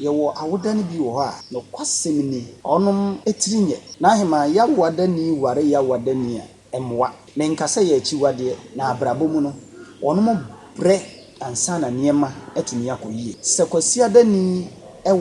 Yɛwɔ awoda no bi wɔ hɔ a. Nokwasɛm ni, ɔnom tiri nyɛ. N'aheman Yawoadani ware Yawoadani a, ɛmmoa. Menka sɛ ɛyɛ akyiwadeɛ, na abrabɔ mu no, wɔnom brɛ ansa na nneɛma atumi akɔ yie. Sɛ Kwasiadani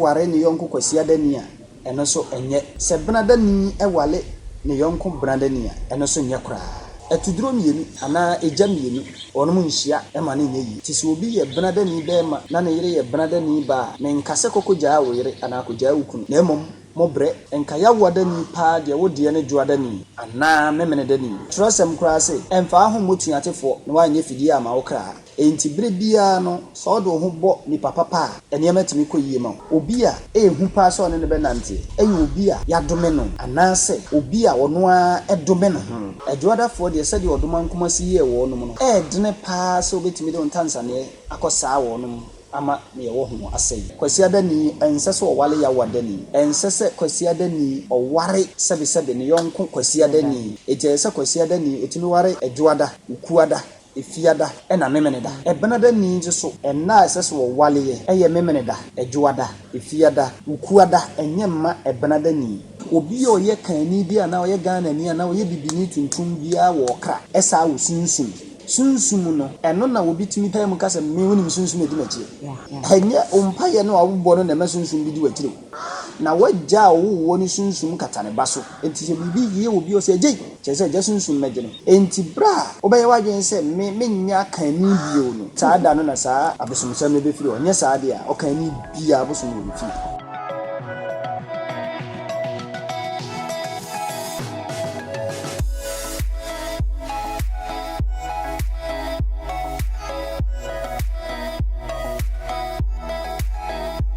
ware ne yɔnko Kwasiadani a, ɛno nso nyɛ. Sɛ benadani ware ne yɔnko benadani a, ɛno nso nyɛ koraa. Atuduro mmienu anaa egya mmienu, wɔnom nhyia ma no nyɛ yie. Nti sɛ obi yɛ benadani barima na ne yere yɛ benadani baa a, menka sɛ kɔ kɔgyaa wo yere anaa kɔgyaa wo kunu, na mmom mobrɛ. Nka Yawoadani paa deɛ wo deɛ ne Dwoadani anaa Memenedani. Twerɛsɛm koraa se, Ɛmfaa ho mmɔ tuatefoɔ na woanyɛ fidie amma wo kra. Enti bere biara no, sɛ wode wo ho bɔ nipa papa a, nneɛma tumi kɔ yiye ma wo. Obi a ɛyɛ hu paa sɛ ɔne no bɛnante yɛ obi a yɛadome no anaasɛ obi a ɔno ara dome ne ho. Adwuadafoɔ deɛ, sɛdeɛ ɔdom ankomasi yɛɛ wɔnom no, ɛyɛ dene paa sɛ wobɛtumi de wo ntansaneɛ akɔsaa wɔnom ama deɛ ɛwɔ ho asɛe. Kwasiadani, Ɛnsɛ sɛ ɔware Yawadani. Ɛnsɛ sɛ Kwasiadani ɔware sɛbesɛbe ne yɔnko Kwasiadani. Enti ɛyɛ sɛ Kwasiadani, ɔtumi ware Adwuada, Okuada, Efiada na Memeneda. Ɛbenada ni nso so. Nna a ɛsɛ sɛ wɔwaleɛ ɛyɛ Memeneda, Ɛdwoada, Efiada, Wukuada, ɛnyɛ mma Ɛbenada ni. Obi a ɔyɛ Kanni bi anaa ɔyɛ Ghanani anaa ɔyɛ Bibini tuntum biara wɔ ɔkra, ɛsaa wɔ sunsum. Sunsum no, ɛno na obi tumi pae mu ka sɛ, Me, wonim sunsum a ɛdi m'akyi. Ɛnyɛ wo mpaeɛ no a wobɔ no na ɛma sunsum bi di w'akyire o. Na w'agya a ɔwoo woɔ no sunsum kata ne ba so. Enti sɛ biribi yie wɔ obi hɔ, sɛ ɛgye, kyerɛ sɛ agya sunsum bɛgye no. Enti berɛ a wobɛyɛ w'adwene sɛ me, merenyɛ akanni bio no, saa da no na saa abosomsɛm no bɛfiri hɔ, nyɛ saa deɛ a, ɔkanni biara bosom wɔ me fie.